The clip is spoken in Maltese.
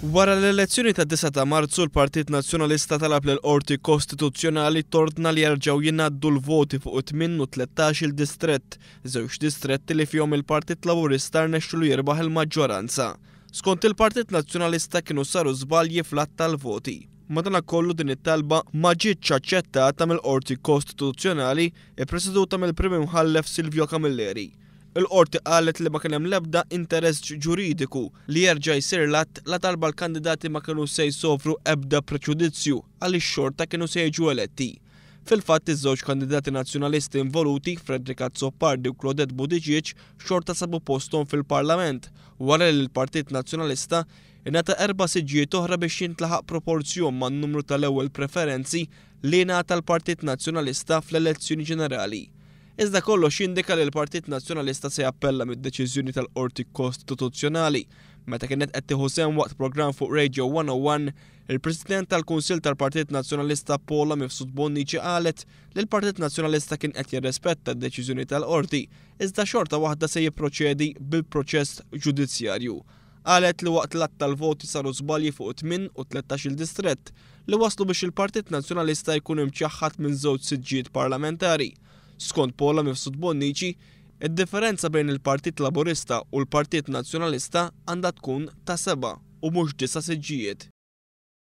Wara l-elezzjoni tad-9 ta' Marzu l-Partit Nazzjonalista talab lill-Qorti Kostituzzjonali tordna li jerġgħu jingħaddu l-voti fuq it-tmien u t-tlettax-il distrett, żewġ distretti li fihom il-Partit Laburista rnexxilu jirbaħ il-maġġoranza. Skont il-Partit Nazzjonalista kienu saru żbalji fl-għadd tal-voti. Madanakollu din it-talba ma ġietx aċċettata mill-Qorti Kostituzzjonali ppreseduta mill-Prim Imħallef Silvio Camilleri. Il-Qorti qalet li ma kien hemm l-ebda interess ġuridiku li jerġa' jsir l-att ladarba l-kandidati ma kienu se jsofru ebda preġudizzju għaliex xorta kienu se jiġu eletti. Fil-fatt, iż-żewġ kandidati Nazzjonalisti involuti, Frederick Azzopardi u Claudette Buttigieg, xorta sabu posthom fil-Parlament wara li l-Partit Nazzjonalista ingħata erba' siġġijiet oħra biex jintlaħaq proporzjon man-numru tal-ewwel preferenzi li ingħata l-Partit Nazzjonalista fl-elezzjoni ġenerali Iżda kollox jindika li l-Partit Nazzjonalista se jappella mid-deċiżjoni tal-Qorti Kostituzzjonali. Meta kienet qed tieħu sehem waqt programm fuq Radio 101, il-President tal-Kunsill tal-Partit Nazzjonalista Paula Mifsud Bonnici qalet li l-Partit Nazzjonalista kien qed jirrispetta d-deċiżjoni tal-Qorti iżda xorta waħda se jipproċedi bil-proċess ġudizzjarju. Qalet li waqt l-għadd tal-voti saru żbalji fuq tmien u tlettax-il distrett li wasslu biex il-Partit Nazzjonalista jkun imċaħħad minn żewġ siġġijiet parlamentari. Skont Paula Mifsud Bonnici, id-differenza bejn il-Partit Laburista u l-Partit Nazzjonalista għandha tkun ta' seba' u mhux disa' siġġijiet.